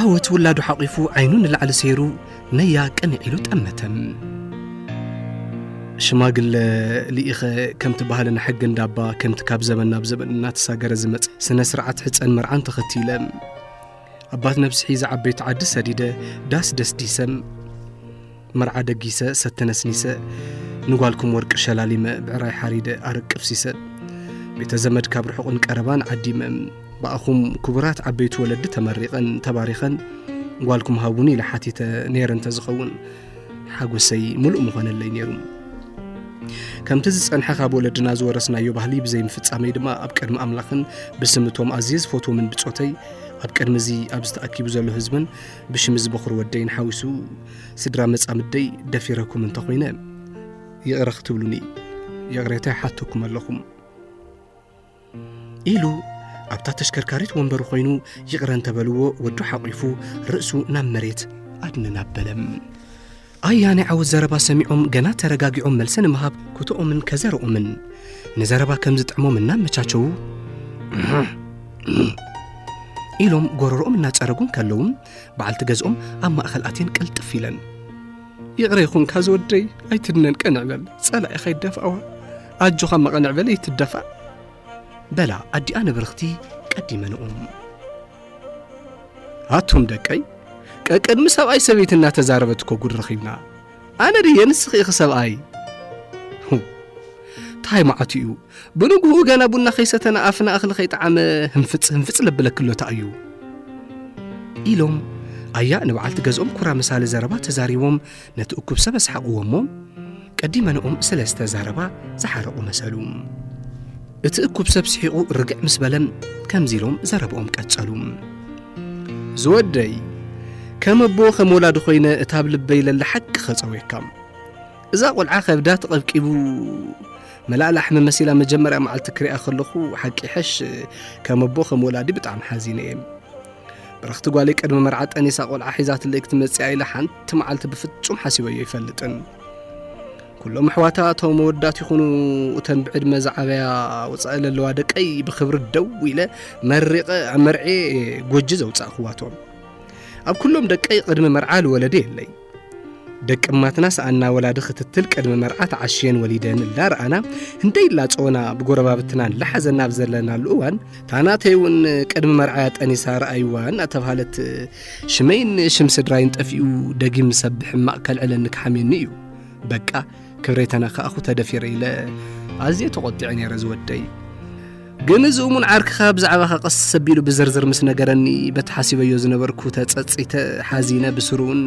ዓወት ውላዱ ሓቒፉ ዓይኑ ንላዕሊ ሰይሩ ነያ ቅንዕ ኢሉ ጠመተም ሽማግለ ልኢኸ ከምቲ ባህልና ሕጊ እንዳባ ከምቲ ካብ ዘበን ናብ ዘበን እናተሳገረ ዝመፅ ስነ ስርዓት ሕፀን መርዓን ተኸቲለ ኣባት ነብሲ ሒዘ ዓበይቲ ዓዲ ሰዲደ ዳስ ደስዲሰን መርዓ ደጊሰ ሰተ ነስኒሰ ንጓልኩም ወርቂ ሸላሊመ ብዕራይ ሓሪደ ኣረቅፍሲሰ ቤተ ዘመድ ካብ ርሑቕን ቀረባን ዓዲመ ብኣኹም ክቡራት ዓበይቲ ወለዲ ተመሪቐን ተባሪኸን ጓልኩም ሃቡኒ ኢለ ሓቲተ ነይረ እንተዝኸውን ሓጎሰይ ምሉእ ምኾነለይ ነይሩ ከምቲ ዝጸንሐ ካብ ወለድና ዝወረስናዮ ባህሊ ብዘይምፍጻመይ ድማ ኣብ ቅድሚ ኣምላኽን ብስም እቶም ኣዝየ ዝፈትዎምን ብጾተይ ኣብ ቅድሚ እዚ ኣብዚ ተኣኪቡ ዘሎ ህዝብን ብሽም እዚ በኹሪ ወደይን ሓዊሱ ስድራ መጻምደይ ደፊረኩም እንተኾይነ ይቕረ ክትብሉኒ ይቕሬታ ይሓተኩም ኣለኹም ኢሉ ኣብታ ተሽከርካሪት ወንበሩ ኮይኑ ይቕረ እንተበልዎ ወዱ ሓቂፉ ርእሱ ናብ መሬት ኣድንን ኣበለም ኣያ ናይ ዓወት ዘረባ ሰሚዖም ገና ተረጋጊዖም መልሲ ንምሃብ ኩትኦምን ከዘረኦምን ንዘረባ ከም ዝጥዕሞም እናመቻቸዉ ኢሎም ጎረሮኦም እናጸረጉን ከለውን በዓልቲ ገዝኦም ኣብ ማእኸል ኣትየን ቅልጥፍ ኢለን ይዕረ ይኹንካ ዝወደይ ኣይትድነን ቀንዕ በል ጸላኢኻ ይደፍኣዋ ኣጆኻ መቐንዕ በል ይትደፋእ በላ ኣዲኣ ንብርኽቲ ቀዲመንኦም ኣቱም ደቀይ ቀቅድሚ ሰብኣይ ሰበይቲ እናተዛረበት እኮ ጉድ ረኺብና ኣነ ድየ ንስኺ ኢኺ ሰብኣይ እንታይ መዓቱ እዩ ብንግህኡ ገና ቡና ከይሰተና ኣፍና እኽሊ ከይጠዓመ ህንፍጽ ህንፍጽ ለብለክሎታ እዩ ኢሎም ኣያ ንበዓልቲ ገዝኦም ኩራ ምሳሌ ዘረባ ተዛሪቦም ነቲ እኩብ ሰብ ኣስሓቕዎ እሞ ቀዲመንኦም ስለ ዝተዛረባ ዝሓረቑ መሰሉ እቲ እኩብ ሰብ ስሒቑ ርግዕ ምስ በለ ከምዚ ኢሎም ዘረብኦም ቀጸሉ ዝወደይ ከም ኣቦ ከም ወላዲ ኮይነ እታ ኣብ ልበይ ለለ ሓቂ ኸጸውየካ እዛ ቆልዓ ከብዳ ተቐብቂቡ መላእ ላሕሚ መሲላ መጀመርያ መዓልቲ ክሪኣ ከለኹ ሓቂ ይሐሽ ከም ኣቦ ከም ወላዲ ብጣዕሚ ሓዚነ እየ ብረኽቲ ጓለይ ቅድሚ መርዓ ጠኒሳ ቆልዓ ሒዛትለይ ክትመፅኣ ኢላ ሓንቲ መዓልቲ ብፍጹም ሓሲበዮ ይፈልጥን ኩሎም ኣሕዋታ እቶም መወዳት ይኹኑ እተን ብዕድመ ዝዓበያ ወፃኢ ዘለዋ ደቀይ ብክብሪ ደው ኢለ መሪቐ ኣብ መርዔ ጎጂ ዘውፃእኽዋቶም ኣብ ኩሎም ደቀይ ቅድሚ መርዓ ዝወለደ የለይ ደቂ እማትናስ ኣና ወላዲ ክትትል ቅድሚ መርዓ ተዓሽየን ወሊደን እንዳረኣና እንደይላፀወና ብጎረባብትና ላሓዘና ኣብ ዘለናሉ እዋን ታናተይ እውን ቅድሚ መርዓያ ጠኒሳ ረኣይዋ እናተባሃለት ሽመይን ሽም ስድራይን ጠፊኡ ደጊም ሰብ ሕማቕ ከልዕለኒ ክሓምየኒ እዩ በቃ ክብሬተና ከኣኹ ተደፊረ ኢለ ኣዝየ ተቖጢዐ ነይረ ዝወደይ ግን እዚ እሙን ዓርክኻ ብዛዕባኻ ቀስ ኣቢሉ ብዝርዝር ምስ ነገረኒ በቲ ሓሲበዮ ዝነበርኩ ተጸጺተ ሓዚነ ብስሩውን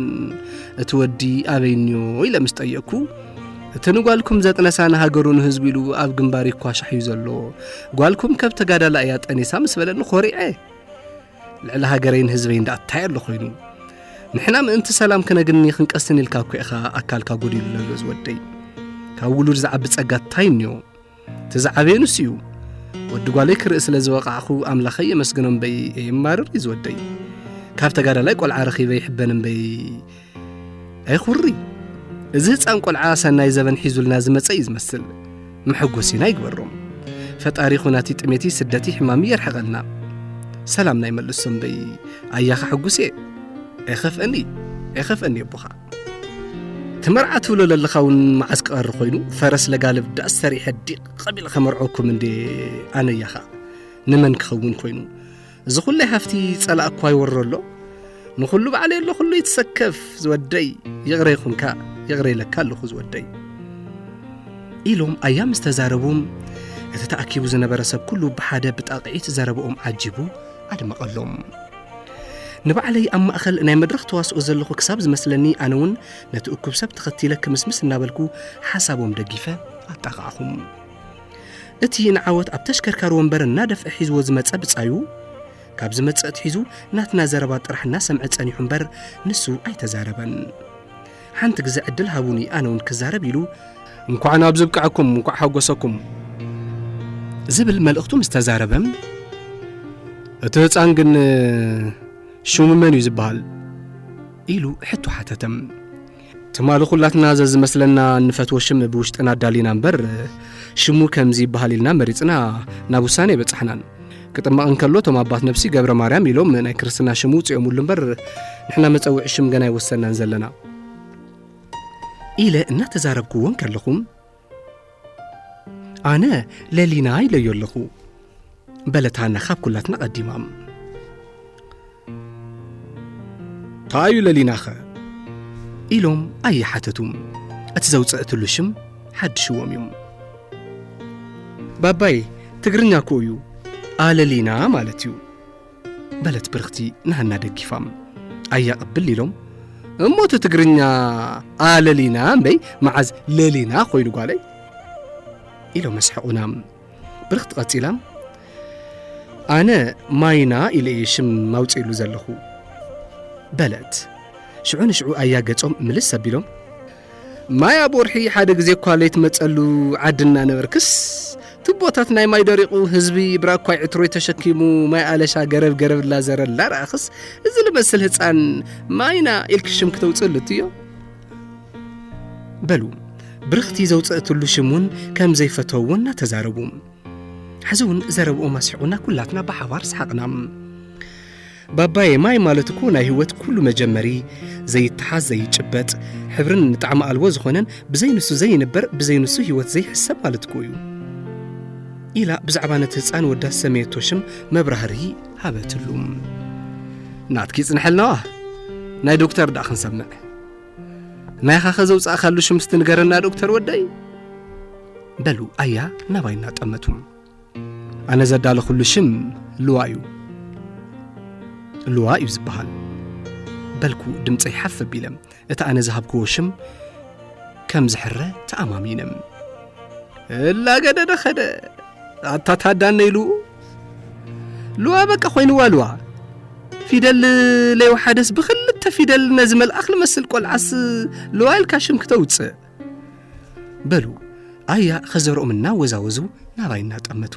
እቲ ወዲ ኣበይ እንዮ ኢለ ምስ ጠየቅኩ እቲ ንጓልኩም ዘጥነሳ ንሃገሩ ንህዝቡ ኢሉ ኣብ ግንባር ይኳሻሕ እዩ ዘሎ ጓልኩም ከብ ተጋዳላ እያ ጠኒሳ ምስ በለኒ ኮሪዐ ልዕሊ ሃገረይን ህዝበይን ደኣ እንታይ ኣሎ ኮይኑ ንሕና ምእንቲ ሰላም ክነግኒ ክንቀስን ኢልካ እኮ ኢኻ ኣካልካ ጎዲሉ ዘሎ ዝወደይ ካብ ውሉድ ዝዓቢ ጸጋ እንታይ እኒኦ እቲ ዝዓበየ ንሱ እዩ ወዲ ጓለይ ክርኢ ስለ ዝበቓዕኹ ኣምላኸይ የመስግኖ እምበይ የማርር እዩ ዝወደይ ካብ ተጋዳላይ ቆልዓ ረኺበ ይሕበን እምበይ ኣይኹሪ እዚ ህፃን ቆልዓ ሰናይ ዘበን ሒዙልና ዝመፀ እዩ ዝመስል መሐጎሲና ይግበሮም ፈጣሪ ኹናቲ ጥሜቲ ስደቲ ሕማሚ የርሕቐልና ሰላምና ይመልሶ እምበይ ኣያኻ ሕጉስ እየ ኣይኸፍአኒ ኣይኸፍአኒ ኣቦኻ ትመርዓ ትብሎ ለለኻ እውን መዓስ ቀሪ ኮይኑ ፈረስ ለጋልብ ዳስ ሰሪሐ ዲቕ ቐቢል ከመርዐኩም እንዴ ኣነያ ኸዓ ንመን ክኸውን ኮይኑ እዚ ኹለይ ሃፍቲ ጸላእ እኳ ይወሮ ኣሎ ንኹሉ ባዕለ ኣሎ ኹሉ ይትሰከፍ ዝወደይ ይቕረ ይኹንካ ይቕረ ይለካ ኣለኹ ዝወደይ ኢሎም ኣያ ምስ ተዛረቡም እቲ ተኣኪቡ ዝነበረ ሰብ ኩሉ ብሓደ ብጣቕዒት ዘረብኦም ዓጂቡ ኣድመቐሎም ንባዕለይ ኣብ ማእኸል ናይ መድረኽ ተዋስኦ ዘለኹ ክሳብ ዝመስለኒ ኣነ እውን ነቲ እኩብ ሰብ ተኸቲለ ክምስምስ እናበልኩ ሓሳቦም ደጊፈ ኣጣቓዕኹም እቲ ንዓወት ኣብ ተሽከርካሪ ወንበር እናደፍዐ ሒዝዎ ዝመፀ ብፃዩ ካብ ዝመፅእ ትሒዙ ናትና ዘረባ ጥራሕ እናሰምዐ ፀኒሑ እምበር ንሱ ኣይተዛረበን ሓንቲ ግዘ ዕድል ሃቡኒ ኣነ እውን ክዛረብ ኢሉ እንኳዕ ናብዚ ብቃዕኩም እንኳዕ ሓጎሰኩም ዝብል መልእኽቱ ምስ ተዛረበ እቲ ህፃን ግን ሽሙ መን እዩ ዝበሃል ኢሉ ሕቶ ሓተተም ትማሊ ኩላትና ዘዝመስለና እንፈትዎ ሽም ብውሽጥና ኣዳሊና እምበር ሽሙ ከምዚ ይበሃል ኢልና መሪፅና ናብ ውሳኔ በፃሕናን ክጥመቕ እንከሎ እቶም ኣባት ነብሲ ገብረ ማርያም ኢሎም ናይ ክርስትና ሽም ውፅኦምሉ እምበር ንሕና መፀውዒ ሽም ገና ኣይወሰናን ዘለና ኢለ እናተዛረብክዎ እንከለኹም ኣነ ለሊና ኢለዮ ኣለኹ በለት ሃና ካብ ኩላትና ቀዲማም ታዩ ለሊናኸ ኢሎም ኣይሓተቱ እቲ ዘውፅእትሉ ሽም ሓድሽዎም እዩ ባባይ ትግርኛ እኮ እዩ ኣለሊና ማለት እዩ በለት ብርኽቲ ንሃና ደጊፋም ኣያ ቅብል ኢሎም እሞ እቲ ትግርኛ ኣለሊና እምበይ መዓዝ ለሊና ኮይኑ ጓለይ ኢሎም ኣስሐቑና ብርክቲ ቀጺላ ኣነ ማይና ኢለ እየ ሽም ማውፅእሉ ዘለኹ በለት ሽዑ ንሽዑ ኣያ ገጾም ምልስ ኣቢሎም ማይ ኣብ ወርሒ ሓደ ግዜ እኳ ለይትመጸሉ ዓዲ እናነበርክስ ትቦታት ናይ ማይ ደሪቑ ህዝቢ ብራኳይ ዕትሮይ ተሸኪሙ ማይ ኣለሻ ገረብ ገረብ ላዘረ ላረኣኽስ እዚ ልመስል ህፃን ማይና ኢልኪ ሽም ክተውፅእሉ እትዮ በሉ ብርኽቲ ዘውፅእትሉ ሽም እውን ከም ዘይፈተው እውን እናተዛረቡ ሕዚ እውን ዘረብኦም ኣስሒቑና ኩላትና ብሓባር ሰሓቕና ባባዬ ማይ ማለት እኮ ናይ ህይወት ኩሉ መጀመሪ ዘይተሓዝ ዘይጭበጥ ሕብርን ንጣዕሚ ኣልቦ ዝኾነን ብዘይንሱ ዘይንበር ብዘይንሱ ህይወት ዘይሕሰብ ማለት እኮ እዩ ኢላ ብዛዕባ ነቲ ህፃን ወዳ ዝሰመየቶ ሽም መብራህሪ ሃበትሉ ናትኪ ይፅንሐልናዋ ናይ ዶክተር ዳእ ክንሰምዕ ናይኻኸ ዘውፃእካሉ ሽም ስትንገረና ዶክተር ወደይ በሉ ኣያ ናባይ እናጠመቱ ኣነ ዘዳለኹሉ ሽም ልዋ እዩ ልዋ እዩ ዝበሃል በልኩ ድምፀይ ሓፍ ኣቢለ እቲ ኣነ ዝሃብክዎ ሽም ከም ዝሕረ ተኣማሚነ እላገደደ ኸደ ኣታ ታዳነይ ሉኡ ሉዋ በቃ ኮይንዋ ሉዋ ፊደል ለይወሓደስ ብክልተ ፊደል ነዚ መልኣኽ ልመስል ቆልዓስ ሉዋ ኢልካ ሽም ክተውፅእ በሉ ኣያ ኸዘርኦም እናወዛወዙ ናባይ እናጠመቱ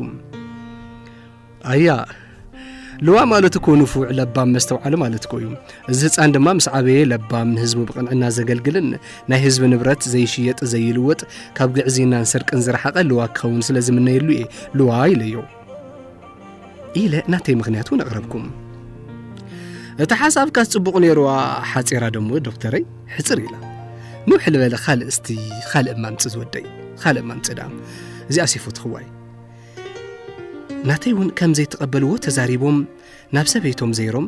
ኣያ ልዋ ማለት እኮ ንፉዕ ለባም መስተውዓሊ ማለት እኮ እዩ እዚ ህፃን ድማ ምስ ዓበየ ለባም ንህዝቡ ብቕንዕና ዘገልግልን ናይ ህዝቢ ንብረት ዘይሽየጥ ዘይልወጥ ካብ ግዕዝይናን ስርቅን ዝረሓቐ ልዋ ክኸውን ስለ ዝምነየሉ እየ ልዋ ኢለዮ ኢለ ናተይ ምክንያት እውን ኣቕረብኩም እቲ ሓሳብካ ጽቡቕ ነይሩዋ ሓፂራ ደሞ ዶክተረይ ሕፅር ኢላ ንውሕ ልበለ ካልእ እስቲ ካልእ ማምፅ ዝወደይ ካልእ ማምፅ ደኣ እዚኣ ሲፎትኽዋይ ናተይ እውን ከም ዘይተቐበልዎ ተዛሪቦም ናብ ሰበይቶም ዘይሮም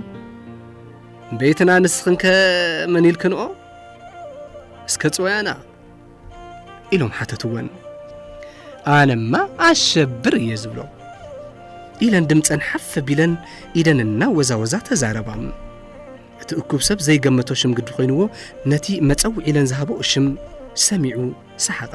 ቤትና ንስኽንከ መን ኢልክንኦ እስከ ጽወያና ኢሎም ሓተትወን ኣነማ ኣሸብር እየ ዝብሎ ኢለን ድምፀን ሓፍ ቢለን ኢደን እናወዛወዛ ተዛረባ እቲ እኩብ ሰብ ዘይገመቶ ሽም ግዲ ኮይንዎ ነቲ መፀውዒ ኢለን ዝሃበኦ ሽም ሰሚዑ ሰሓቐ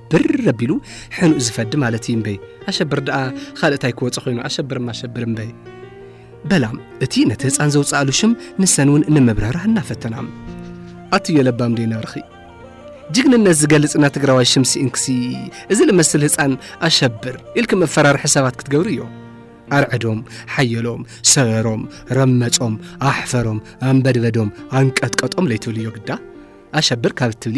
ብር ኣቢሉ ሕኑእ ዝፈዲ ማለት እዩ እምበይ ኣሸብር ደኣ ኻልእ እንታይ ክወፀ ኮይኑ ኣሸብርም ኣሸብር እምበይ በላም እቲ ነቲ ህፃን ዘውፅኣሉ ሽም ንሰን እውን ንምብራራ እናፈተናም ኣትዮ ለባም ደይነርኺ ጅግንነት ዝገልጽ እና ትግራዋይ ሽም ስኢንክሲ እዚ ልመስል ህፃን ኣሸብር ኢልክ መፈራርሒ ሰባት ክትገብሩ እዮ ኣርዕዶም ሓየሎም ሰበሮም ረመጾም ኣሕፈሮም ኣንበድበዶም ኣንቀጥቀጦም ለይትብልዮ ግዳ ኣሸብር ካብ እትብሊ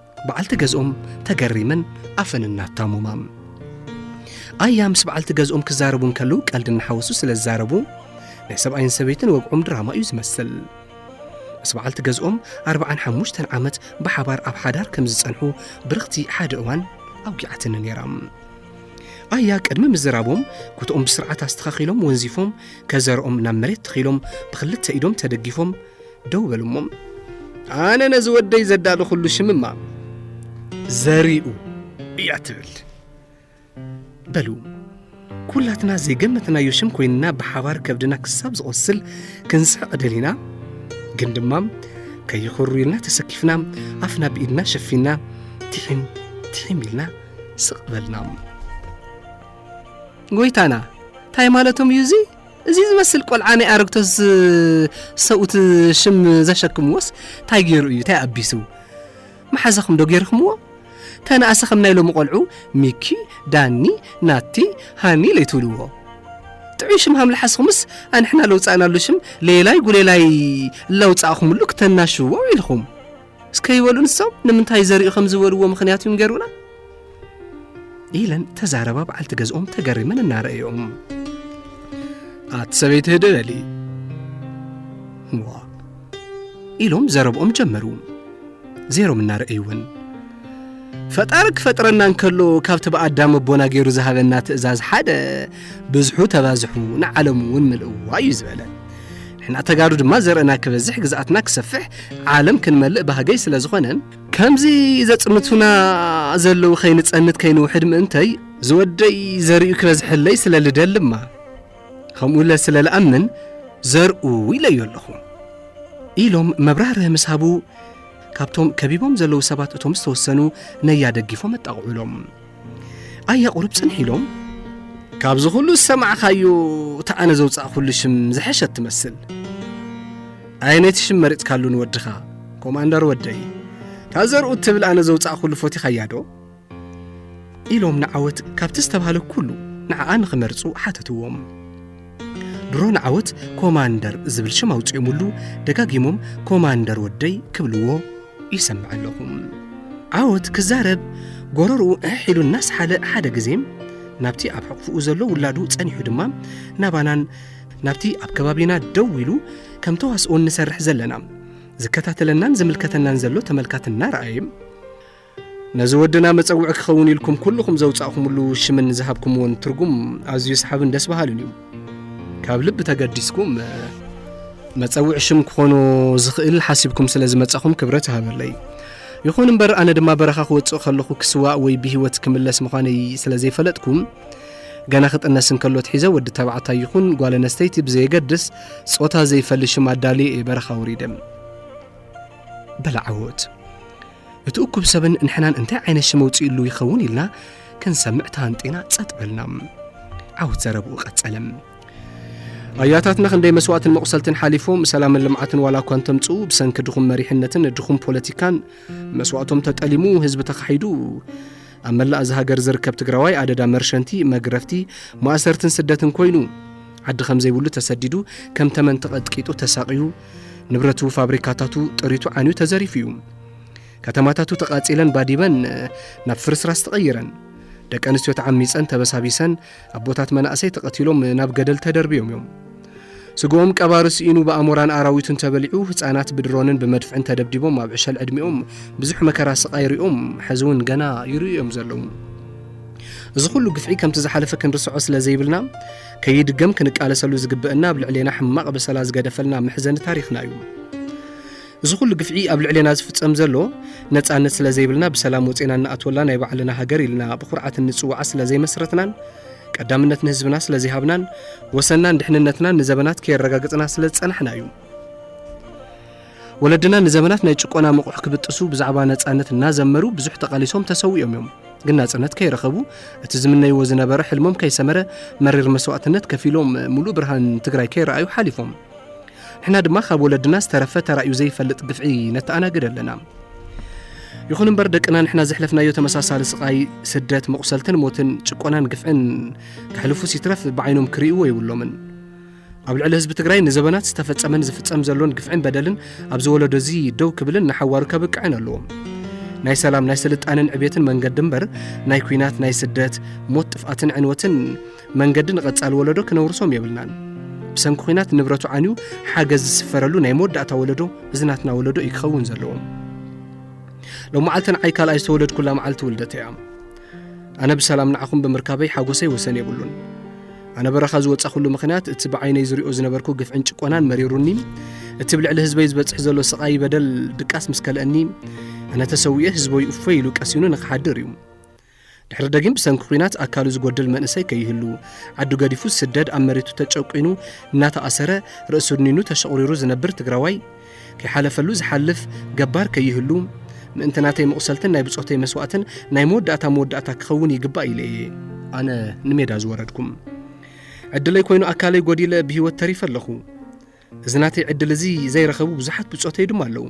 በዓልቲ ገዝኦም ተገሪመን ኣፈን እናታሙማም ኣያ ምስ በዓልቲ ገዝኦም ክዛረቡ እንከሉ ቀልዲ እናሓወሱ ስለ ዝዛረቡ ናይ ሰብኣይን ሰበይትን ወግዖም ድራማ እዩ ዝመስል ምስ በዓልቲ ገዝኦም ኣርብዓን ሓሙሽተን ዓመት ብሓባር ኣብ ሓዳር ከም ዝጸንሑ ብርኽቲ ሓደ እዋን ኣውጊዓትኒ ነይራ ኣያ ቅድሚ ምዝራቦም ኩትኦም ብስርዓት ኣስተኻኺሎም ወንዚፎም ከዘርኦም ናብ መሬት ተኺሎም ብክልተ ኢዶም ተደጊፎም ደው በሉ እሞ ኣነ ነዚ ወደይ ዘዳለኹሉ ሽምማ ዘሪኡ እያ ትብል በሉ ኩላትና ዘይገመትናዮ ሽም ኮይንና ብሓባር ከብድና ክሳብ ዝቖስል ክንስሕቕ ደሊና ግን ድማ ከይኽሩ ኢልና ተሰኪፍና ኣፍና ብኢድና ሸፊና ትሒም ትሒም ኢልና ስቕ በልና ጎይታና እንታይ ማለቶም እዩ እዙይ እዚ ዝመስል ቆልዓ ናይ ኣረግቶት ሰብኡት ሽም ዘሸክምዎስ እንታይ ገይሩ እዩ እንታይ ኣቢሱ መሓዛኹም ዶ ገይርክምዎ ተነኣሰ ከም ናይ ሎሚ ቆልዑ ሚኪ ዳኒ ናቲ ሃኒ ለይትብልዎ ጥዑይ ሽም ሃምልሓስኹምስ ኣንሕና ለውፃእናሉ ሽም ሌላይ ጉሌላይ ለውፃእኹምሉ ክተናሽዎ ኢልኹም እስከ ይበሉ ንሶም ንምንታይ ዘሪኡ ከም ዝበልዎ ምኽንያት ይንገሩና ኢለን ተዛረባ በዓልቲ ገዝኦም ተገሪመን እናረእዮም ኣቲ ሰበይቲ ህደለሊ ዋ ኢሎም ዘረብኦም ጀመሩ ዜሮም እናረእይውን ፈጣሪ ክፈጥረና እንከሎ ካብቲ ብኣዳም ኣቦና ገይሩ ዝሃበና ትእዛዝ ሓደ ብዝሑ ተባዝሑ ንዓለም እውን ምልእዋ እዩ ዝበለ ንሕና ተጋሩ ድማ ዘርእና ክበዝሕ ግዝኣትና ክሰፍሕ ዓለም ክንመልእ ባህገይ ስለ ዝኾነን ከምዚ ዘጽንቱና ዘለዉ ከይንጸንት ከይንውሕድ ምእንተይ ዝወደይ ዘርእዩ ክበዝሐለይ ስለ ልደልማ ከምኡ ለ ስለ ልኣምን ዘርኡ ኢለዮ ኣለኹ ኢሎም መብራህርህ ምስ ሃቡ ካብቶም ከቢቦም ዘለዉ ሰባት እቶም ዝተወሰኑ ነያ ነያደጊፎም ኣጣቕዑሎም ኣያ ቁሩብ ጽንሕ ኢሎም ካብዚ ኹሉ ዝሰማዕኻዮ እቲ ኣነ ዘውጻእኩሉ ሽም ዝሐሸት ትመስል ኣየ ነቲ ሽም መሪጽካሉ ንወድኻ ኮማንደር ወደይ እታ ዘርኡ እትብል ኣነ ዘውጻእኩሉ ፎቲኻያ ዶ ኢሎም ንዓወት ካብቲ ዝተባህለ ኩሉ ንዓኣ ንኽመርጹ ሓተትዎም ድሮ ንዓወት ኮማንደር ዝብል ሽም ኣውፅኦምሉ ደጋጊሞም ኮማንደር ወደይ ክብልዎ ይሰምዕ ኣለኹ። ዓወት ክዛረብ ጎረርኡ እሕ ኢሉ እናስሓለ ሓደ ግዜ ናብቲ ኣብ ሕቕፍኡ ዘሎ ውላዱ ጸኒሑ ድማ ናባናን ናብቲ ኣብ ከባቢና ደው ኢሉ ከም ተዋስኦ እንሰርሕ ዘለና ዝከታተለናን ዝምልከተናን ዘሎ ተመልካት እናረኣየ ነዚ ወድና መጸውዒ ክኸውን ኢልኩም ኩልኹም ዘውጻእኹምሉ ሽምን ዝሃብኩምዎን ትርጉም ኣዝዩ ሰሓብን ደስ በሃልን እዩ ካብ ልቢ ተገዲስኩም መጸውዒ ሽም ክኾኖ ዝኽእል ሓሲብኩም ስለ ዝመጻኹም ክብረት ይሃበለይ ይኹን እምበር ኣነ ድማ በረኻ ክወጽእ ከለኹ ክስዋእ ወይ ብህይወት ክምለስ ምዃነይ ስለ ዘይፈለጥኩም ገና ክጥነስ እንከሎ ትሒዘ ወዲ ተባዕታይ ይኹን ጓል ኣነስተይቲ ብዘየገድስ ጾታ ዘይፈሊ ሽም ኣዳልየ እየ በረኻ ውሪደ በላዓወት እቲ እኩብ ሰብን ንሕናን እንታይ ዓይነት ሽም ኣውፂኡሉ ይኸውን ኢልና ክንሰምዕ ተሃንጢና ጸጥ በልና ዓወት ዘረብኡ ቀጸለም ኣያታትና ክንደይ መስዋእትን መቑሰልትን ሓሊፎም ሰላምን ልምዓትን ዋላ እኳ እንተምፅኡ ብሰንኪ ድኹም መሪሕነትን ድኹም ፖለቲካን መስዋእቶም ተጠሊሙ ህዝቢ ተኻሒዱ ኣብ መላእ እዚ ሃገር ዝርከብ ትግራዋይ ኣደዳ መርሸንቲ መግረፍቲ ማእሰርትን ስደትን ኮይኑ ዓዲ ከም ዘይብሉ ተሰዲዱ ከም ተመን ተቐጥቂጡ ተሳቕዩ ንብረቱ ፋብሪካታቱ ጥሪቱ ዓንዩ ተዘሪፉ እዩ ከተማታቱ ተቓጺለን ባዲበን ናብ ፍርስራስ ተቐይረን ደቂ ኣንስትዮ ተዓሚፀን ተበሳቢሰን ኣቦታት መናእሰይ ተቐቲሎም ናብ ገደል ተደርብዮም እዮም ስግኦም ቀባሪ ስኢኑ ብኣሞራን ኣራዊቱን ተበሊዑ ህፃናት ብድሮንን ብመድፍዕን ተደብዲቦም ኣብ ዕሸል ዕድሚኦም ብዙሕ መከራ ስቓይ ሪኦም ሕዚ እውን ገና ይርእዩ እዮም ዘለዉ እዚ ኩሉ ግፍዒ ከምቲ ዝሓለፈ ክንርስዖ ስለ ዘይብልና ከይድገም ክንቃለሰሉ ዝግበእና ኣብ ልዕሌና ሕማቕ በሰላ ዝገደፈልና መሕዘኒ ታሪኽና እዩ። እዚ ኩሉ ግፍዒ ኣብ ልዕሌና ዝፍጸም ዘሎ ነጻነት ስለ ዘይብልና ብሰላም ወፂና እንኣትወላ ናይ ባዕልና ሃገር ኢልና ብኩርዓት እንጽውዓ ስለ ዘይመስረትናን ቀዳምነት ንህዝብና ስለ ዘይሃብናን ወሰናን ድሕንነትናን ንዘበናት ከየረጋግጽና ስለ ዝጸናሕና እዩ። ወለድና ንዘመናት ናይ ጭቆና መቑሕ ክብጥሱ ብዛዕባ ነጻነት እናዘመሩ ብዙሕ ተቓሊሶም ተሰዊኦም እዮም። ግን ናጽነት ከይረኸቡ እቲ ዝምነይዎ ዝነበረ ሕልሞም ከይሰመረ መሪር መስዋእትነት ከፊሎም ሙሉእ ብርሃን ትግራይ ከይረኣዩ ሓሊፎም። ንሕና ድማ ካብ ወለድና ዝተረፈ ተራእዩ ዘይፈልጥ ግፍዒ ነተኣናግድ ኣለና። ይኹን እምበር ደቅና ንሕና ዘሕለፍናዮ ተመሳሳሊ ስቓይ፣ ስደት፣ መቑሰልትን ሞትን፣ ጭቆናን ግፍዕን ከሕልፉስ ይትረፍ ብዓይኖም ክርእይዎ የብሎምን። ኣብ ልዕሊ ህዝቢ ትግራይ ንዘበናት ዝተፈጸመን ዝፍጸም ዘሎን ግፍዕን በደልን ኣብዚ ወለዶ እዚ ደው ክብልን ንሓዋሩ ከብቅዕን ኣለዎ። ናይ ሰላም ናይ ስልጣንን ዕቤትን መንገዲ እምበር ናይ ኩናት ናይ ስደት ሞት ጥፍኣትን ዕንወትን መንገዲ ንቐጻሊ ወለዶ ክነውርሶም የብልናን ብሰንኪ ኩናት ንብረቱ ዓንዩ ሓገዝ ዝስፈረሉ ናይ መወዳእታ ወለዶ እዚ ናትና ወለዶ እዩ ክኸውን ዘለዎም ሎመዓልቲ ንዓይ ካልኣይ ዝተወለድኩላ መዓልቲ ውልደት እያ ኣነ ብሰላም ንዓኹም ብምርካበይ ሓጎሰይ ወሰን የብሉን። ኣነ በረኻ ዝወጻኹሉ ምኽንያት እቲ ብዓይነይ ዝሪኦ ዝነበርኩ ግፍዕን ጭቆናን መሪሩኒ እቲ ብልዕሊ ህዝበይ ዝበጽሕ ዘሎ ስቓይ በደል ድቃስ ምስ ከልአኒ ኣነ ተሰዊኤ ህዝበይ እፎይ ኢሉ ቀሲኑ ንክሓድር እዩ ድሕሪ ደጊም ብሰንኪ ኩናት ኣካሉ ዝጎድል መንእሰይ ከይህሉ ዓዱ ገዲፉ ዝስደድ ኣብ መሬቱ ተጨቂኑ እናተኣሰረ ርእሱ ድኒኑ ተሸቑሪሩ ዝነብር ትግራዋይ ከይሓለፈሉ ዝሓልፍ ገባር ከይህሉ ምእንቲ ናተይ መቑሰልትን ናይ ብጾተይ መስዋእትን ናይ መወዳእታ መወዳእታ ክኸውን ይግባእ ኢለ እየ ኣነ ንሜዳ ዝወረድኩም ዕድለይ ኮይኑ ኣካለይ ጎዲለ ብህይወት ተሪፈ ኣለኹ እዚ ናተይ ዕድል እዚ ዘይረኸቡ ብዙሓት ብጾተይ ድማ ኣለዉ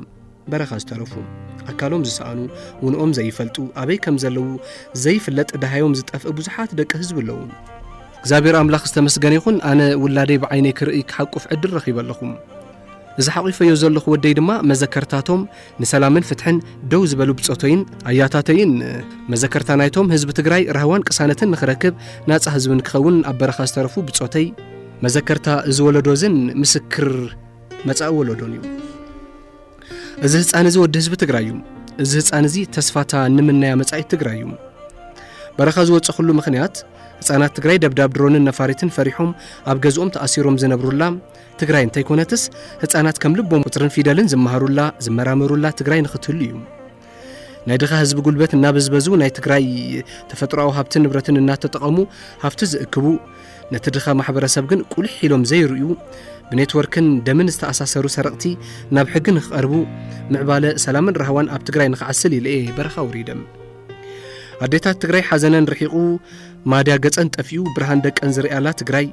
በረኻ ዝተረፉ ኣካሎም ዝሰኣኑ ውንኦም ዘይፈልጡ ኣበይ ከም ዘለዉ ዘይፍለጥ ደሃዮም ዝጠፍእ ብዙሓት ደቂ ህዝቢ ኣለዉ እግዚኣብሔር ኣምላኽ ዝተመስገነ ይኹን ኣነ ውላደይ ብዓይነይ ክርእይ ክሓቁፍ ዕድል ረኺበ ኣለኹም እዚ ሓቒፈዮ ዘለኹ ወደይ ድማ መዘከርታቶም ንሰላምን ፍትሕን ደው ዝበሉ ብጾተይን ኣያታተይን መዘከርታ ናይቶም ህዝቢ ትግራይ ራህዋን ቅሳነትን ንኽረክብ ናጻ ህዝቢ ንክኸውን ኣብ በረኻ ዝተረፉ ብጾተይ መዘከርታ እዚ ወለዶ እዝን ምስክር መጻኢ ወለዶን እዩ። እዚ ህፃን እዚ ወዲ ህዝቢ ትግራይ እዩ። እዚ ህፃን እዚ ተስፋታ ንምናያ መጻኢት ትግራይ እዩ። በረኻ ዝወፀኹሉ ምኽንያት ህፃናት ትግራይ ደብዳብ ድሮንን ነፋሪትን ፈሪሖም ኣብ ገዝኦም ተኣሲሮም ዝነብሩላ ትግራይ እንተይኮነትስ ህፃናት ከም ልቦም ቁፅርን ፊደልን ዝመሃሩላ ዝመራመሩላ ትግራይ ንክትህሉ እዩ ናይ ድኻ ህዝቢ ጉልበት እናበዝበዙ ናይ ትግራይ ተፈጥሮኣዊ ሃብትን ንብረትን እናተጠቐሙ ሃፍቲ ዝእክቡ ነቲ ድኻ ማሕበረሰብ ግን ቁልሕ ኢሎም ዘይርእዩ ብኔትወርክን ደምን ዝተኣሳሰሩ ሰረቕቲ ናብ ሕጊ ንክቐርቡ ምዕባለ ሰላምን ራህዋን ኣብ ትግራይ ንክዓስል ኢለ እየ በረኻ ውሪደም ኣዴታት ትግራይ ሓዘነን ርሒቑ ማድያ ገፀን ጠፊኡ ብርሃን ደቀን ዝርኣላ ትግራይ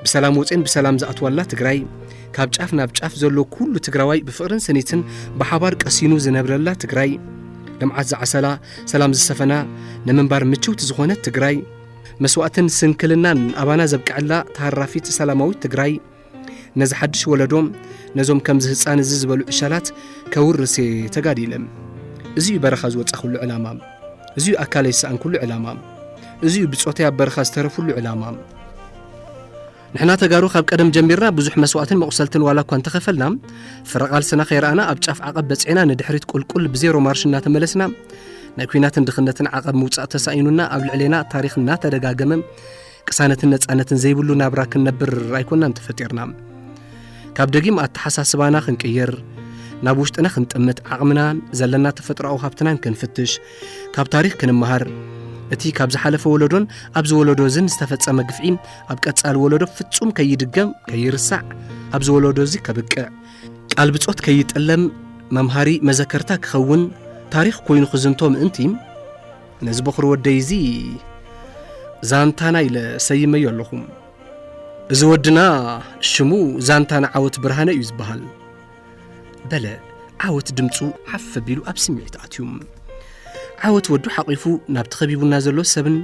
ብሰላም ወፅን ብሰላም ዝኣትዋላ ትግራይ ካብ ጫፍ ናብ ጫፍ ዘሎ ኩሉ ትግራዋይ ብፍቕርን ስኒትን ብሓባር ቀሲኑ ዝነብረላ ትግራይ ልምዓት ዝዓሰላ ሰላም ዝሰፈና ንምንባር ምችውቲ ዝኾነት ትግራይ መስዋእትን ስንክልናን ኣባና ዘብቅዐላ ተሃራፊት ሰላማዊት ትግራይ ነዚ ሓድሽ ወለዶ ነዞም ከምዚ ህፃን እዚ ዝበሉ ዕሸላት ከውርስ ተጋዲለ እዚ እዩ በረኻ ዝወፃኹሉ ዕላማ እዚ እዩ ኣካለይ ዝሰኣንኩሉ ዕላማ እዚ እዩ ብፆተይ ኣብ በረኻ ዝተረፍሉ ዕላማ ንሕና ተጋሩ ካብ ቀደም ጀሚርና ብዙሕ መስዋእትን መቑሰልትን ዋላ እኳ እንተኸፈልና ፍረ ቓልስና ከይረኣና ኣብ ጫፍ ዓቐብ በጺዕና ንድሕሪት ቁልቁል ብዜሮ ማርሽ እናተመለስና ናይ ኩናትን ድኽነትን ዓቐብ ምውጻእ ተሳኢኑና ኣብ ልዕሌና ታሪኽ እናተደጋገመ ቅሳነትን ነጻነትን ዘይብሉ ናብራ ክንነብር ኣይኮናን ተፈጢርና ካብ ደጊም ኣተሓሳስባና ክንቅይር ናብ ውሽጥና ክንጥምት ዓቕምናን ዘለና ተፈጥሮኣዊ ሃብትናን ክንፍትሽ ካብ ታሪኽ ክንመሃር እቲ ካብ ዝሓለፈ ወለዶን ኣብዚ ወለዶ እዝን ዝተፈጸመ ግፍዒ ኣብ ቀጻሊ ወለዶ ፍጹም ከይድገም ከይርሳዕ ኣብዚ ወለዶ እዚ ከብቅዕ ቃል ብጾት ከይጥለም መምሃሪ መዘከርታ ክኸውን ታሪኽ ኮይኑ ክዝንቶ ምእንቲ ነዚ በኹሪ ወደይ እዚ ዛንታና ኢለ ሰይመዮ ኣለኹ እዚ ወድና ሽሙ ዛንታና ዓወት ብርሃነ እዩ ዝበሃል በለ ዓወት ድምፁ ሓፍ ኣቢሉ ኣብ ስምዒት ኣትዩ ዓወት ወዱ ሓቂፉ ናብቲ ከቢቡና ዘሎ ሰብን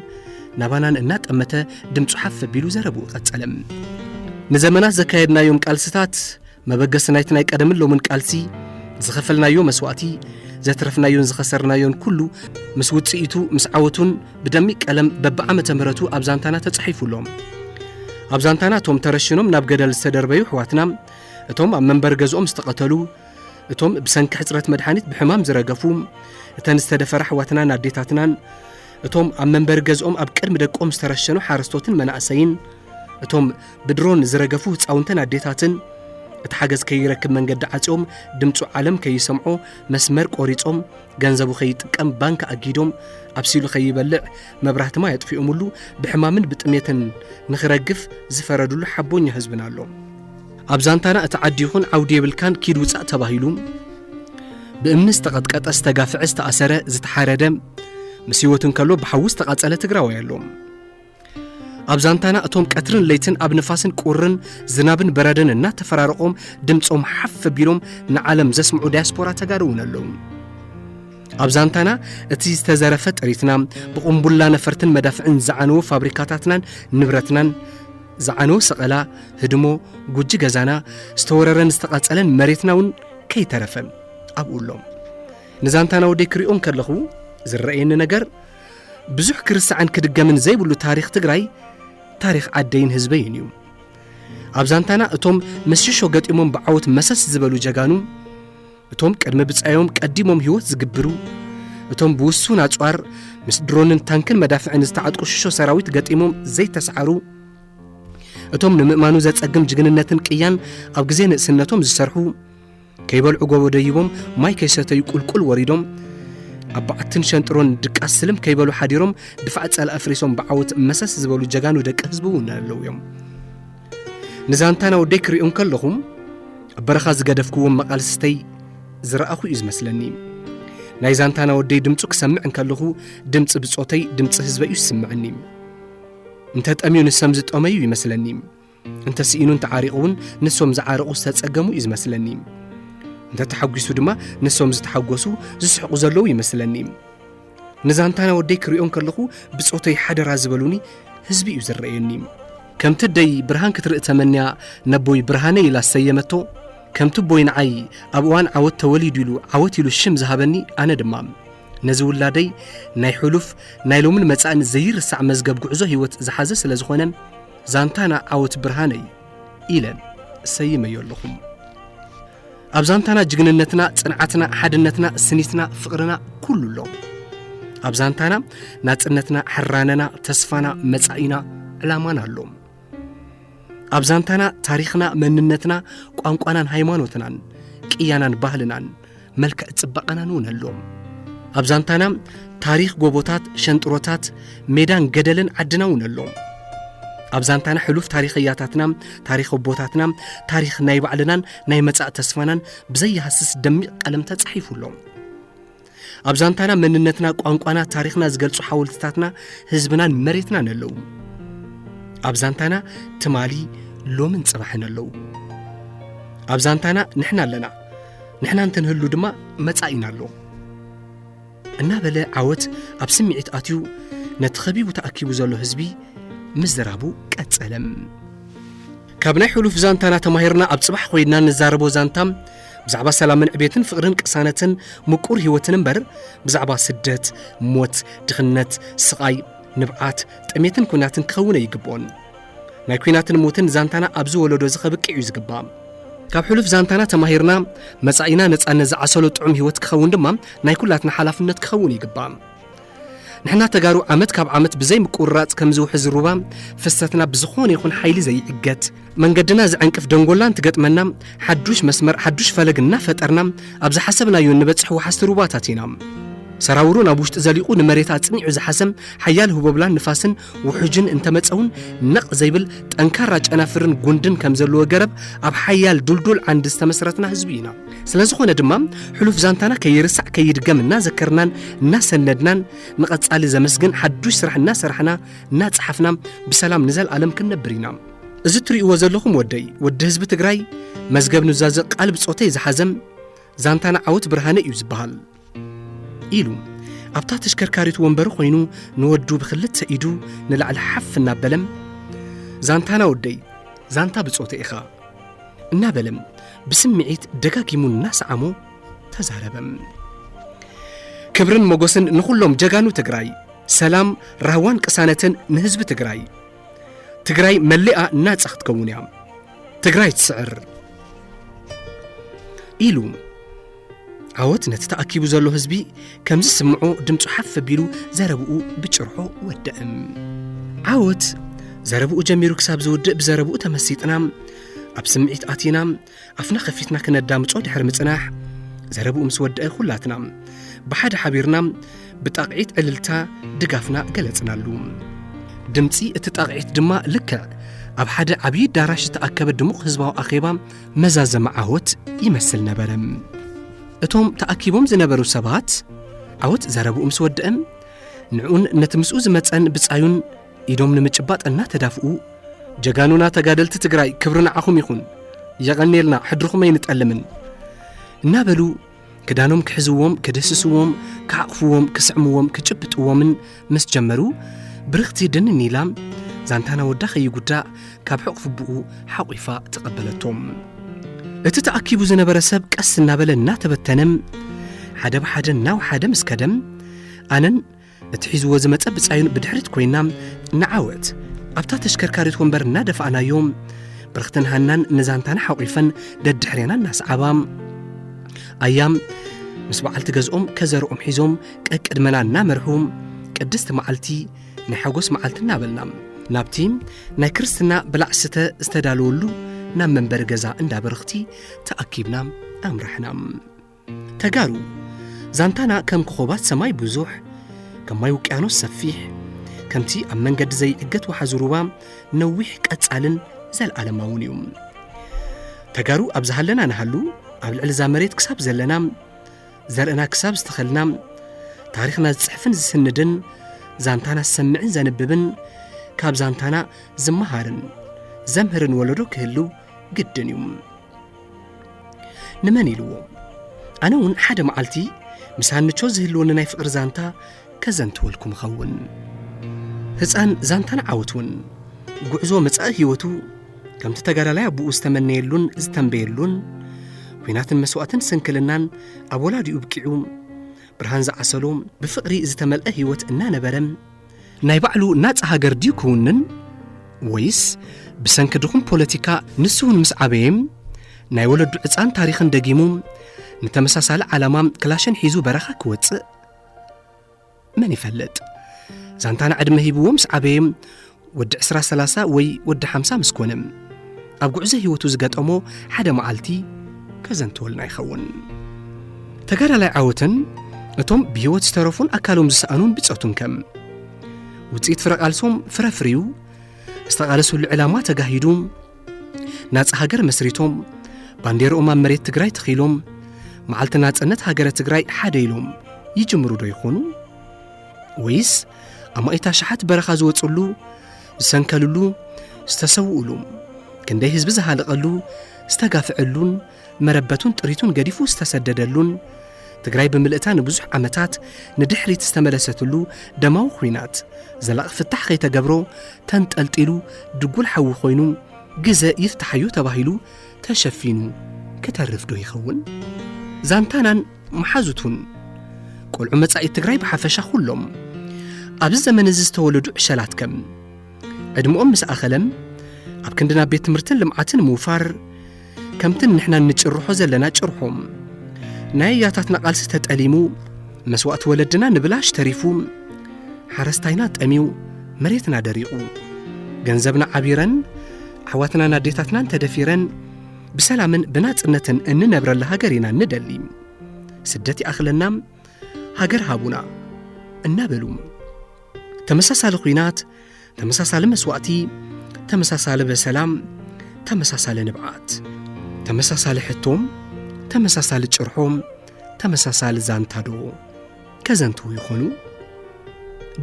ናባናን እናጠመተ ድምፁ ሓፍ ኣቢሉ ዘረብኡ ቀጸለ ንዘመናት ዘካየድናዮም ቃልስታት መበገሲ ናይቲ ናይ ቀደምን ሎምን ቃልሲ ዝኸፈልናዮ መስዋእቲ ዘትረፍናዮን ዝኸሰርናዮን ኩሉ ምስ ውፅኢቱ ምስ ዓወቱን ብደሚቅ ቀለም በብዓመተ ምህረቱ ኣብ ዛንታና ተጻሒፉ ኣሎ ኣብ ዛንታና እቶም ተረሽኖም ናብ ገደል ዝተደርበዩ ኣሕዋትና እቶም ኣብ መንበሪ ገዝኦም ዝተቐተሉ፣ እቶም ብሰንኪ ሕጽረት መድሓኒት ብሕማም ዝረገፉ፣ እተን ዝተደፈራ ኣሕዋትናን ኣዴታትናን፣ እቶም ኣብ መንበሪ ገዝኦም ኣብ ቅድሚ ደቆም ዝተረሸኑ ሓረስቶትን መናእሰይን፣ እቶም ብድሮን ዝረገፉ ህፃውንትን ኣዴታትን እቲ ሓገዝ ከይረክብ መንገዲ ዓፅዮም ድምፁ ዓለም ከይሰምዖ መስመር ቆሪፆም ገንዘቡ ከይጥቀም ባንክ ኣጊዶም ኣብሲሉ ከይበልዕ መብራህቲ ማይ ኣጥፊኦምሉ ብሕማምን ብጥሜትን ንኽረግፍ ዝፈረድሉ ሓቦኛ ህዝብና ኣሎ ኣብ ዛንታና እቲ ዓዲ ይኹን ዓውዲ የብልካን ኪድ ውፃእ ተባሂሉ ብእምኒ ዝተቐጥቀጠ ዝተጋፍዐ ዝተኣሰረ ዝተሓረደ ምስ ህይወት እንከሎ ብሓዊ ዝተቓፀለ ትግራዋይ ኣሎ ኣብ ዛንታና እቶም ቀትርን ለይትን ኣብ ንፋስን ቁርን ዝናብን በረድን እናተፈራረቖም ድምፆም ሓፍ ቢሎም ንዓለም ዘስምዑ ዳያስፖራ ተጋሩ እውን ኣለዉ ኣብ ዛንታና እቲ ዝተዘረፈ ጥሪትና ብቕምቡላ ነፈርትን መዳፍዕን ዝዓነወ ፋብሪካታትናን ንብረትናን ዝዓነወ ሰቐላ ህድሞ ጉጂ ገዛና ዝተወረረን ዝተቐጸለን መሬትና እውን ከይተረፈ ኣብኡ ኣሎም ንዛንታና ወደይ ክሪኦ እንከለኹ ዝረኣየኒ ነገር ብዙሕ ክርሳዕን ክድገምን ዘይብሉ ታሪኽ ትግራይ ታሪኽ ዓደይን ህዝበይን እዩ ኣብ ዛንታና እቶም ምስ ሽሾ ገጢሞም ብዓወት መሰስ ዝበሉ ጀጋኑ እቶም ቅድሚ ብጻዮም ቀዲሞም ህይወት ዝግብሩ እቶም ብውሱን ኣጽዋር ምስ ድሮንን ታንክን መዳፍዕን ዝተዓጥቁ ሽሾ ሰራዊት ገጢሞም ዘይተሰዓሩ እቶም ንምእማኑ ዘጸግም ጅግንነትን ቅያን ኣብ ግዜ ንእስነቶም ዝሰርሑ ከይበልዑ ጎቦ ደይቦም ማይ ከይሰተዩ ቁልቁል ወሪዶም ኣብ በዓትን ሸንጥሮን ድቃስ ስልም ከይበሉ ሓዲሮም ድፋዕ ጸላኢ ኣፍሪሶም ብዓወት መሰስ ዝበሉ ጀጋኑ ደቂ ህዝቢ እውን ኣለዉ እዮም ንዛንታና ወደይ ክሪኦ እንከለኹም ኣብ በረኻ ዝገደፍክዎም መቓልስተይ ዝረኣኹ እዩ ዝመስለኒ ናይ ዛንታና ወደይ ድምፁ ክሰምዕ እንከለኹ ድምፂ ብፆተይ ድምፂ ህዝበይ እዩ ዝስምዐኒ እንተ ጠምዩ ንሰም ዝጠመዩ ይመስለኒ እንተ ስኢኑ እንተ ዓሪቑ እውን ንሶም ዝዓረቑ ዝተጸገሙ እዩ ዝመስለኒ እንተ ተሓጒሱ ድማ ንሶም ዝተሓጐሱ ዝስሕቑ ዘለዉ ይመስለኒ ንዛንታና ወደይ ክሪኦም ከለኹ ብጾተይ ሓደራ ዝበሉኒ ህዝቢ እዩ ዝረአየኒ ከምቲ ደይ ብርሃን ክትርኢ ተመንያ ነቦይ ብርሃነ ኢላ ዝሰየመቶ ከምቲ ቦይ ንዓይ ኣብ እዋን ዓወት ተወሊዱ ኢሉ ዓወት ኢሉ ሽም ዝሃበኒ ኣነ ድማ ነዚ ውላደይ ናይ ሕሉፍ ናይ ሎምን መጻእን ዘይርሳዕ መዝገብ ጉዕዞ ህይወት ዝሓዘ ስለ ዝኾነ ዛንታና ዓወት ብርሃነይ ኢለን ሰይመዮ ኣለኹም ኣብ ዛንታና ጅግንነትና ጽንዓትና ሓድነትና ስኒትና ፍቕርና ኩሉ ኣሎ ኣብ ዛንታና ናጽነትና ሕራነና ተስፋና መጻኢና ዕላማና ኣሎ ኣብ ዛንታና ታሪኽና መንነትና ቋንቋናን ሃይማኖትናን ቅያናን ባህልናን መልክዕ ጽባቐናን እውን ኣሎም ኣብ ዛንታና ታሪኽ ጎቦታት ሸንጥሮታት ሜዳን ገደልን ዓድና እውን ኣሎም ኣብ ዛንታና ሕሉፍ ታሪኽ እያታትና ታሪኽ ኣቦታትና ታሪኽ ናይ ባዕልናን ናይ መጻእ ተስፋናን ብዘይሃስስ ደሚቕ ቀለም ተጻሒፉ ኣሎ ኣብ ዛንታና መንነትና ቋንቋና ታሪኽና ዝገልጹ ሓወልትታትና ህዝብናን መሬትናን ኣለዉ ኣብ ዛንታና ትማሊ ሎምን ጽባሕን ኣለዉ ኣብ ዛንታና ንሕና ኣለና ንሕና እንተንህሉ ድማ መጻኢና ኣሎ እናበለ ዓወት ኣብ ስምዒት ኣትዩ ነቲ ኸቢቡ ተኣኪቡ ዘሎ ህዝቢ ምዝራቡ ቀጸለም ካብ ናይ ሕሉፍ ዛንታና ተማሂርና ኣብ ጽባሕ ኮይንና ንዛረቦ ዛንታ ብዛዕባ ሰላምን ዕቤትን ፍቕርን ቅሳነትን ምቁር ህይወትን እምበር ብዛዕባ ስደት ሞት ድኽነት ስቓይ ንብዓት ጥሜትን ኩናትን ክኸውን ኣይግብኦን ናይ ኲናትን ሞትን ዛንታና ኣብዚ ወለዶ እዚ ከብቅዕ እዩ ዝግባእ። ካብ ሕሉፍ ዛንታና ተማሂርና መጻኢና ነጻነት ዝዓሰሎ ጥዑም ህይወት ክኸውን ድማ ናይ ኩላትና ሓላፍነት ክኸውን ይግባእ። ንሕና ተጋሩ ዓመት ካብ ዓመት ብዘይ ምቁርራጽ ከም ዝውሕዝ ሩባ ፍሰትና ብዝኾነ ይኹን ሓይሊ ዘይዕገት መንገድና ዝዕንቅፍ ደንጎላ እንትገጥመና ሓዱሽ መስመር ሓዱሽ ፈለግ እናፈጠርና ኣብ ዝሓሰብናዮ እንበጽሕ ወሓስቲ ሩባታት ኢና። ሰራውሩ ናብ ውሽጢ ዘሊቑ ንመሬት ኣጽኒዑ ዝሓሰም ሓያል ህቦብላን ንፋስን ውሑጅን እንተመጸውን ነቕ ዘይብል ጠንካራ ጨናፍርን ጉንድን ከም ዘለዎ ገረብ ኣብ ሓያል ዱልዱል ዓንዲ ዝተመስረትና ህዝቢ ኢና። ስለ ዝኾነ ድማ ሕሉፍ ዛንታና ከይርሳዕ ከይድገም እናዘከርናን እናሰነድናን ንቐጻሊ ዘመስግን ሓዱሽ ስራሕ እናሰራሕና እናጸሓፍና ብሰላም ንዘልኣለም ክንነብር ኢና። እዚ እትርእይዎ ዘለኹም ወደይ ወዲ ህዝቢ ትግራይ መዝገብ ኑዛዘ ቃል ብጾተይ ዝሓዘም ዛንታና ዓወት ብርሃነ እዩ ዝበሃል። ኢሉ ኣብታ ተሽከርካሪት ወንበሩ ኮይኑ ንወዱ ብክልተ ኢዱ ንላዕሊ ሓፍ እናበለም ዛንታና ወደይ ዛንታ ብጾተ ኢኻ እናበለም ብስምዒት ደጋጊሙ እናሰዓሞ ተዛረበም ክብርን ሞጎስን ንኹሎም ጀጋኑ ትግራይ ሰላም ራህዋን ቅሳነትን ንህዝቢ ትግራይ ትግራይ መሊኣ ናጻ ክትከውን እያ ትግራይ ትስዕር ኢሉ ዓወት ነቲ ተኣኪቡ ዘሎ ህዝቢ ከምዚ ስምዖ ድምፁ ሓፍ ኣቢሉ ዘረብኡ ብጭርሖ ወድዕም ዓወት ዘረብኡ ጀሚሩ ክሳብ ዝውድእ ብዘረብኡ ተመሲጥና ኣብ ስምዒት ኣቲና ኣፍና ከፊትና ክነዳምፆ ድሕሪ ምፅናሕ ዘረብኡ ምስ ወድአ ኩላትና ብሓደ ሓቢርና ብጣቕዒት ዕልልታ ድጋፍና ገለፅናሉ ድምፂ እቲ ጣቕዒት ድማ ልክዕ ኣብ ሓደ ዓብዪ ኣዳራሽ ዝተኣከበ ድሙቕ ህዝባዊ ኣኼባ መዛዘሚ ዓወት ይመስል ነበረ። እቶም ተኣኪቦም ዝነበሩ ሰባት ዓወት ዘረብኡ ምስ ወድእም ንዕኡን ነቲ ምስኡ ዝመፀን ብፃዩን ኢዶም ንምጭባጥ እናተዳፍኡ ጀጋኑና ተጋደልቲ ትግራይ ክብሪ ንዓኹም ይኹን የቐኔልና ሕድርኹም ኣይንጠልምን እናበሉ ክዳኖም ክሕዝዎም ክድህስስዎም ክሓቕፍዎም ክስዕምዎም ክጭብጥዎምን ምስ ጀመሩ ብርኽቲ ድንን ኢላ ዛንታና ወዳ ከይጉዳእ ካብ ሕቕፍብኡ ሓቝፋ ተቐበለቶም እቲ ተኣኪቡ ዝነበረ ሰብ ቀስ እናበለ እናተበተነ ሓደ ብሓደ እናውሓደ ምስ ከደም ኣነን እቲ ሒዝዎ ዝመጸ ብጻዩን ብድሕሪት ኮይና ንዓወት ኣብታ ተሽከርካሪት ወንበር እናደፋእናዮ ብርኽትን ሃናን ንዛንታና ሓቑፈን ደድሕሬና እናሰዓባ ኣያ ምስ በዓልቲ ገዝኦም ከዘርኦም ሒዞም ቀቅድመና እናመርሑ ቅድስቲ መዓልቲ ናይ ሓጎስ መዓልቲ እናበልና ናብቲ ናይ ክርስትና ብላዕ ስተ ዝተዳለወሉ ናብ መንበሪ ገዛ እንዳ በርኽቲ ተኣኪብና ኣምራሕና ተጋሩ ዛንታና ከም ኮኾባት ሰማይ ብዙሕ ከም ማይ ውቅያኖስ ሰፊሕ ከምቲ ኣብ መንገዲ ዘይዕገት ወሓዚ ሩባ ነዊሕ ቀጻልን ዘለዓለማውን እዩ ተጋሩ ኣብ ዝሃለና ንሃሉ ኣብ ልዕሊ እዛ መሬት ክሳብ ዘለና ዘርእና ክሳብ ዝተኸልና ታሪኽና ዝጽሕፍን ዝስንድን ዛንታና ዝሰምዕን ዘንብብን ካብ ዛንታና ዝመሃርን ዘምህርን ወለዶ ክህልው ግድን እዩ ንመን ኢልዎ ኣነ እውን ሓደ መዓልቲ ምስ ሃንቾ ዝህልወኒ ናይ ፍቕሪ ዛንታ ከዘንትወልኩም እኸውን ህፃን ዛንታን ዓወት እውን ጉዕዞ መጻኢ ህይወቱ ከምቲ ተጋዳላይ ኣቦኡ ዝተመነየሉን ዝተንበየሉን ኲናትን መስዋእትን ስንክልናን ኣብ ወላዲኡ ብቂዑ ብርሃን ዝዓሰሎ ብፍቕሪ ዝተመልአ ህይወት እናነበረ ናይ ባዕሉ ናጻ ሃገር ድዩ ክውንን ወይስ ብሰንኪ ድኹም ፖለቲካ ንሱ እውን ምስ ዓበየ ናይ ወለዱ ዕፃን ታሪኽን ደጊሙ ንተመሳሳሊ ዓላማ ክላሽን ሒዙ በረኻ ክወፅእ መን ይፈልጥ ዛንታና ዕድመ ሂብዎ ምስ ዓበየ ወዲ 20 30 ወይ ወዲ 50 ምስ ኮነ ኣብ ጉዕዞ ህይወቱ ዝገጠሞ ሓደ መዓልቲ ከዘንትወልና ይኸውን ተጋዳላይ ዓወትን እቶም ብህይወት ዝተረፉን ኣካሎም ዝሰኣኑን ብፆቱን ከም ውፅኢት ፍረ ቃልሶም ፍረ ፍርዩ ዝተቓለሱሉ ዕላማ ተጋሂዱ ናፃ ሃገር መስሪቶም ባንዴርኦም ኣብ መሬት ትግራይ ተኺሎም መዓልቲ ናፅነት ሃገረ ትግራይ ሓደ ኢሎም ይጅምሩ ዶ ይኾኑ ወይስ ኣማኢት ኣሽሓት በረኻ ዝወፅሉ ዝሰንከልሉ ዝተሰውኡሉ ክንደይ ህዝቢ ዝሃለቐሉ ዝተጋፍዐሉን መረበቱን ጥሪቱን ገዲፉ ዝተሰደደሉን ትግራይ ብምልእታ ንብዙሕ ዓመታት ንድሕሪት ዝተመለሰትሉ ደማዊ ኹናት ዘላቒ ፍታሕ ከይተገብሮ ተንጠልጢሉ ድጉል ሓዊ ኮይኑ ግዘ ይፍታሓዩ ተባሂሉ ተሸፊኑ ክተርፍ ዶ ይኸውን ዛንታናን መሓዙቱን ቆልዑ መጻኢ ትግራይ ብሓፈሻ ኩሎም ኣብዚ ዘመን እዚ ዝተወለዱ ዕሸላት ከም ዕድምኦም ምስ ኣኸለም ኣብ ክንዲ ናብ ቤት ትምህርትን ልምዓትን ምውፋር ከምትን ንሕና እንጭርሖ ዘለና ጭርሖም ናይ ኣያታትና ቃልሲ ተጠሊሙ መስዋእቲ ወለድና ንብላሽ ተሪፉ ሓረስታይና ጠሚዩ መሬትና ደሪቑ ገንዘብና ዓቢረን ኣሕዋትናን ኣዴታትናን ተደፊረን ብሰላምን ብናጽነትን እንነብረላ ሃገር ኢና ንደሊ ስደት ይኣኽለና ሃገር ሃቡና እናበሉ ተመሳሳሊ ኹናት ተመሳሳሊ መስዋእቲ ተመሳሳሊ በሰላም ተመሳሳሊ ንብዓት ተመሳሳሊ ሕቶም ተመሳሳሊ ጭርሖም ተመሳሳሊ ዛንታዶ ከዘንትዉ ይኾኑ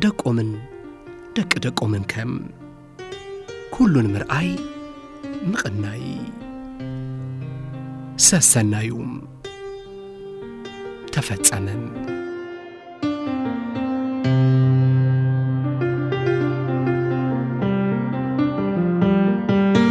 ደቆምን ደቂ ደቆምን ከም ኩሉ ንምርኣይ ምቕናይ ሰሰናዩ ተፈጸመን